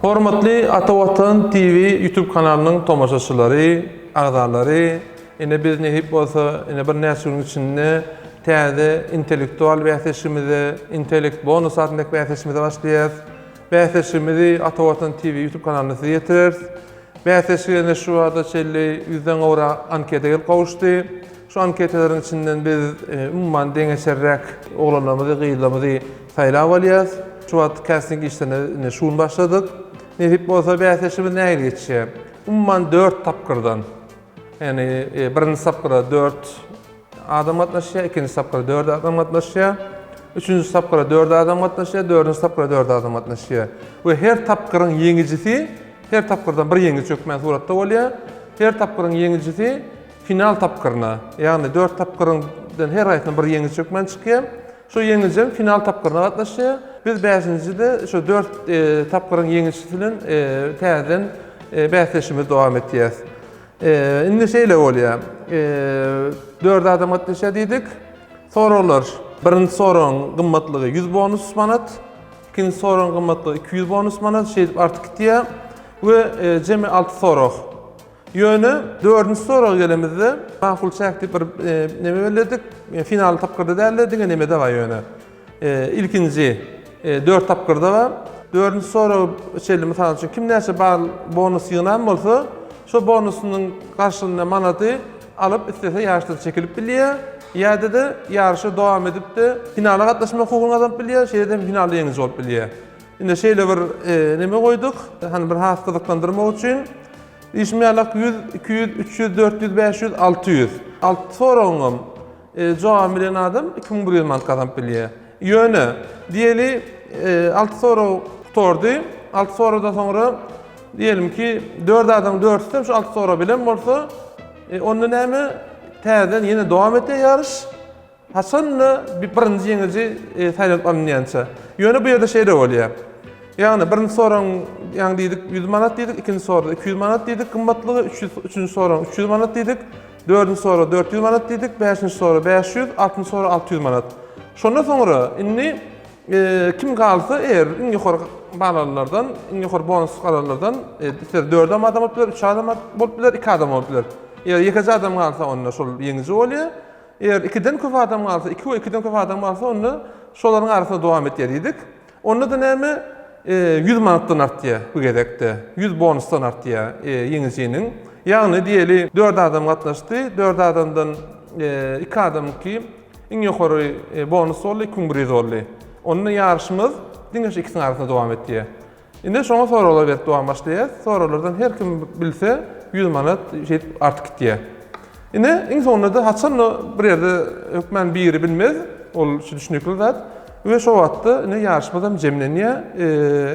Hormatly Ata Watan TV YouTube kanalynyň tomaşaçylary, agzalary, ine biz nehip bolsa, ine bir näçe günüň içinde täze intellektual bäsleşigimize, Intellect Bonus adyndaky bäsleşigimize başlaýarys. Bäsleşigimizi Ata Watan TV YouTube kanalynda size ýetireris. Bäsleşige şu wagta çenli 100-den gowrak anketa gelip gowuşdy. Şu anketaleriň içinden biz umuman deňeçerräk oglanlarymyzy, gyzlarymyzy saýlap alýarys. Şu wagt kasting işlerine indi şu gün başladyk. Nesip bolsa bäsleşigimiz nähili geçýär? Umuman dört tapgyrdan, ýagny birinji tapgyra dört adam gatnaşýar, ikinji tapgyra dört adam gatnaşýar, üçünji tapgyra dört adam gatnaşýar, dördünji tapgyra dört adam gatnaşýar we her tapgyryň ýeňijisi, her tapgyrdan bir ýeňiji hökmän suratda bolýar, her tapgyryň ýeňijisi Final tapgyryna, ýagny dört tapgyryň dan her haýsyna bir ýeňiji hökmän çykýar. Şo ýeňiji hem final tapgyryna gatnaşýar. Biz bäşinjide şo dört tapgyryň ýeňijisi bilen täzeden bäsleşigimizi dowam etýäs. Indi şeýle bolýar. Dört adam gatnaşýar diýdik. Soraglar. Birinji soragyň gymmatlygy ýüz bonus manat. Ikinji soragyň gymmatlygy iki ýüz bonus manat. Şeýdip artyp gitýär. We jemi alty sorag. Ýöne dördünji soraga gelemizde, makul çäk diýip bir neme belledik. Final tapgyrda däl-de, diňe nemede-ha ýöne. Ilkinji dört tapgyrda-ha. Dördünji soraga çenli, mysal üçin, kim näçe bal, bonus ýygnan bolsa, şo bonusynyň garşylygynda manady alyp, islese ýaryşdan çekilip bilýär, ýa-da-da ýaryşa dowam edip-de, finala gatnaşmak hukugyny gazanyp bilýär, şeýle-de hem finalda ýeňiji bolup bilýär. Indi şeýle bir neme goýduk, hany bir has gyzyklandyrmak üçin. Diýşim ýalak 100, 200, 300, 400, 500, 600. Alty soragyňam jogabyny bilen adam 2100 manat gazanyp bilýär. Ýöne, diýeli, alty sorag gutardy. Alty soragdan soňra, diýelim ki, dört adamyň dördüsi hem şu alty soragy bilen bolsa, onda näme, täzeden ýene dowam etýär ýaryş. Haçan-da bir birinji ýeňiji saýlanyp alynýança. Ýöne bu ýerde şeýle bolýar. Ýagny birinji soragyň ýagny diýdik ýüz manat diýdik, ikinji sorada iki ýüz manat diýdik gymmatlygy, üç ýüz, üçünji soragyň üç ýüz manat diýdik, dördünji sorag dört ýüz manat diýdik, bäşinji sorag bäş ýüz, altynjy sorag alty ýüz manat. Şondan soňra indi kim galsa eger iň ýokary bal alanlardan, iň ýokary bonus alanlardan ister dört adam adam bolup biler, üç adam bolup biler, iki adam bolup biler. Ýa ýekeje adam galsa onda şol ýeňiji bolýar. Eger ikiden köp adam galsa, iki we ikiden köp adam galsa, onda şolaryň arasynda dowam et diýdik. Onda-da näme? Ýüz manatdan artýar bu gezekde. Ýüz bonusdan artýar ýeňijiniň. Ýagny diýeli, dört adam gatnaşdy, dört adamdan iki adamyňky iň ýokary bonus boldy, iki müň bir ýüz boldy. Onda ýaryşymyz diňe şu ikisiniň arasynda dowam etýär. Ine şoňa soraglar berip dowam başlaýas. Soraglardan her kim bilse ýüz manat şeýdip artyp gitýä. Ine iň soňunda-da haçan-da bir ýerde hökman biri bilmez, ol şu düşnükli zat we şo wagtda ine ýaryşmazam jemlenýä,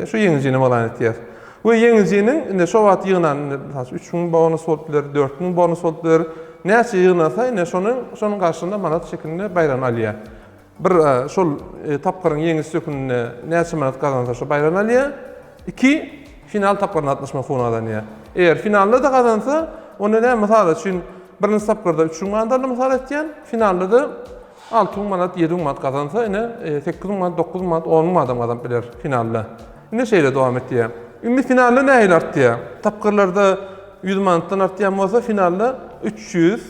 şu ýeňijini yglan etýäs. We ýeňijiniň ine şo wagt ýygnan ine mysal üçin üç müň bonus bolup biler, dört müň bonus bolup biler, näçe ýygnasa ine şonuň şonuň garşyna manat şekilinde baýragyny alýa. Bir, şol tapgyryň ýeňiji sökünine näçe manat gazansa şo baýrany alýar. Iki, final tapgyryna gatnaşmak hukugyny gazanýar. Eger finalda-da gazansa, onda näme, mysal üçin, birinji tapgyrda üç müň manat aldy, mysal aýtýan, finalda-da alty müň manat, ýedi müň manat gazansa, ine, sekiz müň manat, dokuz müň manat, on müň manat hem gazanyp biler finalda. Ine, şeýle dowam etýär. Indi finalda nähili artýar? Tapgyrlarda ýüz manatdan artýan bolsa, finalda üç ýüz.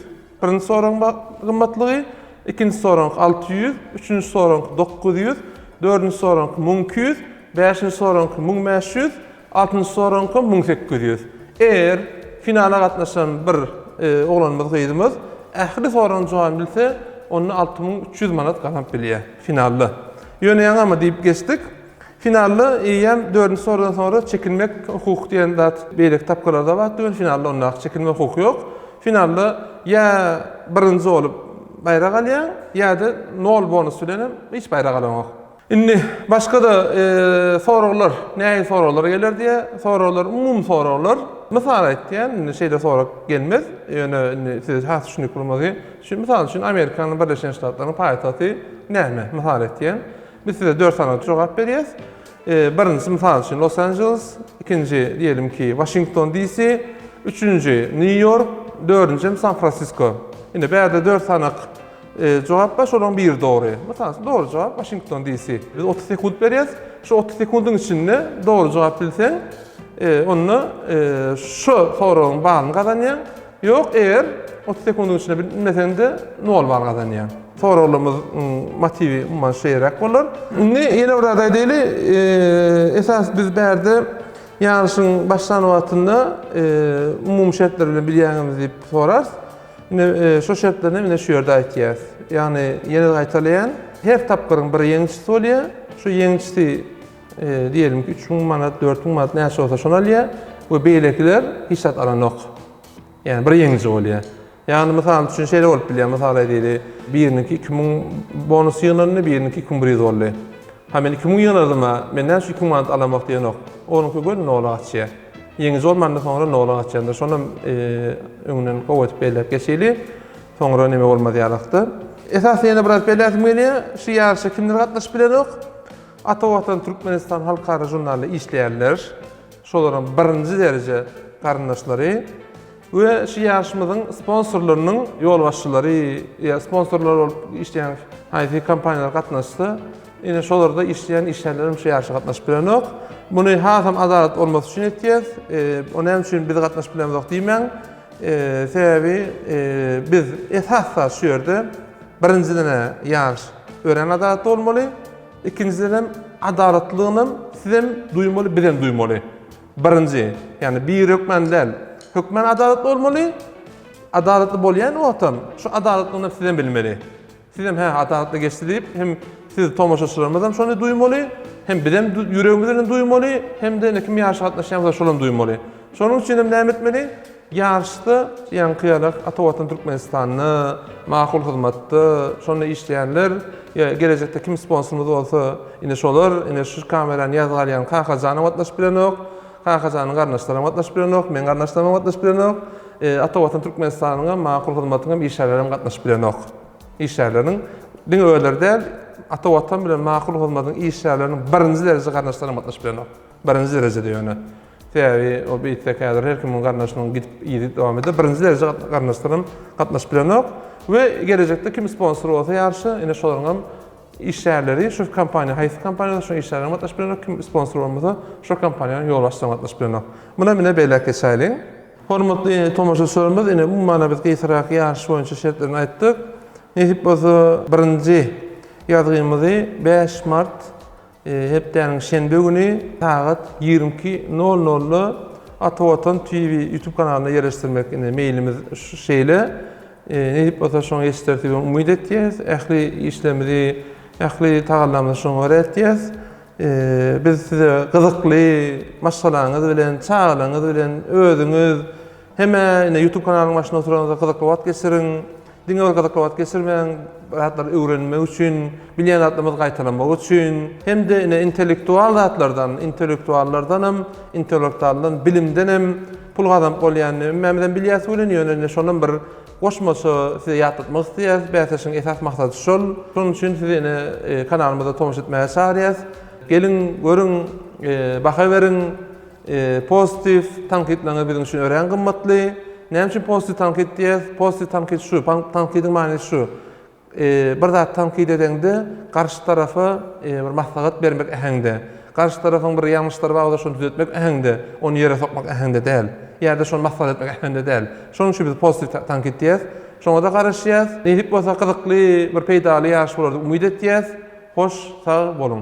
Birinji soragyň gymmatlygy, ikinji soragyňky alty ýüz, üçünji soragyňky dokuz ýüz, dördünji soragyňky müň iki ýüz, bäşinji soragyňky müň bäş ýüz, altynjy soragyňky müň sekiz ýüz. Eger finala gatnaşan bir oglanymyz, gyzymyz ähli soragyň jogabyny bilse, onda alty müň üç ýüz manat gazanyp bilýär finalda. Ýöne ýaňamy diýip geçdik. Finalda eýýäm dördünji sorudan soňra çekinmek hukuky diýen zat beýleki tapgyrlarda bar tüwin, finalda ondaky çekinmek hukuky ýok. Finalda ýa birinji bolup baýrak alýaň, ýa-da nol bonus bilen hem hiç baýrak alaňok. Indi başga-da soraglar, nähili soraglar geler diýýär. Soraglar umumy soraglar. Mysal aýtýan, indi şeýle sorag gelmez, ýöne indi size has düşünikli bolmagy üçin, mysal üçin, Amerikanyň Birleşen Ştatlarynyň paýtagty näme? Mysal aýtýan. Biz size dört sanaly jogap berýäs. Birinjisi mysal üçin Los Angeles, ikinji diýelim ki Washington DC, üçünji New York, dördünji hem San Francisco. Indi bärde dört sanak jogap bar, şolaryň biri dogry. Mysal üçin dogry jogap Washington DC. Biz otuz sekunt berýäs. Şu otuz sekundyň içinde dogry jogap bilseň, onda şu soragyň balyny gazanýaň. Ýok, eger otuz sekundyň içinde bilmeseňde nol bal gazanýaň. Soraglarymyzyň motiwi umuman şeýeräk bolar. Indi ýene bir zat aýdaýly, esas biz bärde ýaryşyň başlan wagtynda umumy şertler bilen bilýäňizmi diýip sorarys. Indi şo şertlerini hem ine şu ýerde aýtýarys. Ýagny ýene-de gaýtalaýan, her tapgyryň bir ýeňijisi bolýar. Şu ýeňijisi diyelim ki 3000 manat, 4000 manat näçe olsa şony alýar we beýlekiler hiç zat alanok. Yani bir ýeňiji bolýar. Yani mysal üçin şeýle bolup bilýär, mysal aýdaýly, biriniňki 2000 bonus ýygnandy, biriniňki 2100 boldy. Ha men 2000 ýygnadym, men näçe 2000 manat alamok diýenok. Onuňky göni nola gaçýar. Ýeňiji bolmanda soňra nola gaçýandyr. Şony e, öňünden gowy edip belläp geçeli. Soňra neme bolmaz ýalakda. Esasy ýene biraz belläsim gelýär. Şu ýaryşa kimler gatnaşyp bilenok? Ata Watan Türkmenistan halkara žurnalynda işleýänler, şolaryň birinji dereje garyndaşlary we şu ýaryşymyzyň sponsorlarynyň ýolbaşçylary ýa sponsorlar bolup işleýän haýsy kompaniýalar gatnaşsa, ine şolarda işleýän işgärlerem şu ýaryşa gatnaşyp bilenok. Muny hasam adalat bolmasy üçin etýäs. O näme üçin biz gatnaşyp bilemzok diýmäň. Sebäbi biz esas-da şu ýerde birinjiden-ä ýaryş örän adalatly bolmaly. Ikinjiden hem adalatlylygyny hem sizem duýmaly, bizem duýmaly. Birinji, ýagny bir hökmän däl, hökmän adalatly bolmaly. Adalatly bolýan wagtam, şu adalatlylygyny hem sizem bilmeli. Sizem hä adalatly geçdi diýip, hem siz tomaşaçylarymyz hem şony duýmaly, hem bizem ýüregimiz bilen duýmaly, hem-de indi kim ýaşy gatnaşýan bolsa şolam duýmaly. Şonuň üçin hem näme etmeli? Ýaryşda ýaňky ýala ata watan Türkmenistanda makul hyzmatda şonda işleýänler ýa gelejekde kim sponsorymyz bolsa ine şolar ine şu kamerany ýazga alýan Kakajanam gatnaşyp bilenok Kakajanyň garyndaşlaram gatnaşyp bilenok meň garyndaşlaramam gatnaşyp bilenok ata watan Türkmenistanyňam makul hyzmatyňam işgärlerem gatnaşyp bilenok işgärleriň diňe özleri däl ata watan bilen makul hyzmatyň işgärleriniň birinji dereje garyndaşlaram gatnaşyp bilenok birinji derejede ýöne. Sebäbi ol beýtse kädir her kimiň garyndaşynyň gidip yzy dowam eder. Birinji derejä garyndaşlaram gatnaşyp bilenok we gelejekde kim sponsor bolsa ýaryşa ine şolaryňam işgärleri şu kompaniýa haýsy kompaniýa bolsa şoň işgärlerem gatnaşyp bilenok kim sponsor bolmasa şo kompaniýanyň ýolbaşçylaram gatnaşyp bilenok. Munam ine belläp geçäýeliň. Hormatly tomaşaçylarymyz ine umumana biz gysgaraky ýaryş boýunça şertlerini aýtdyk. Nesip bolsa birinji ýazgymyzy bäş mart Hepdäniň şenbe güni sagat ýigrimi iki nol nolda Atawatan TV YouTube kanalynda ýerleşdirmek indi meýlimiz şeýle. Nesip bolsa şoňa ýetişdirer diýip umyt etýäs. Ähli işlerimizi, ähli tagallamyzy şoňa görä etýäs. Biz size gyzykly maşgalaňyz bilen, çagalaňyz bilen, özüňiz, Hemä ine YouTube kanalyň başynda oturanňyzda gyzykly wagt geçiriň. Diňe bir gyzykly wagt geçirmäň, zatlary öwrenmek üçin, bilýän zatlarymyzy gaýtalamak üçin. Hemde ine intellektual zatlardan, intellektuallardan hem, intellektualdan, bilimden hem pul gazanyp bolýanyny hemmämiz hem bilýäs welin, ýöne ine şonam bir goşmaça size ýatlatmak isleýäris. Bäsleşigiň esas maksady şol. Şonuň üçin sizi ine kanalymyza tomaşa etmäge çagyrýas. Geliň, görüň, baha beriň. Pozitiw tankytlaryňyz biziň üçin örän gymmatly. Näme üçin pozitiw tankyt diýýäs? Pozitiw tankyt şu, tankydyň manysy şu. Bir zat tankyt edeňde, garşy tarapa bir maslahat bermek äheňde, garşy tarapyň bir ýalňyşlary bar bolsa, şony düzetmek äheňde, ony ýere sokmak äheňde däl. Ýa-da şony maslahat etmek äheňde däl. Şonuň üçin biz pozitiw tankyt diýýäs. Şoňa-da garaşýas. Nesip bolsa gyzykly, bir peýdaly ýaryş bolar diýip umyt etýäs. Hoş, sag boluň!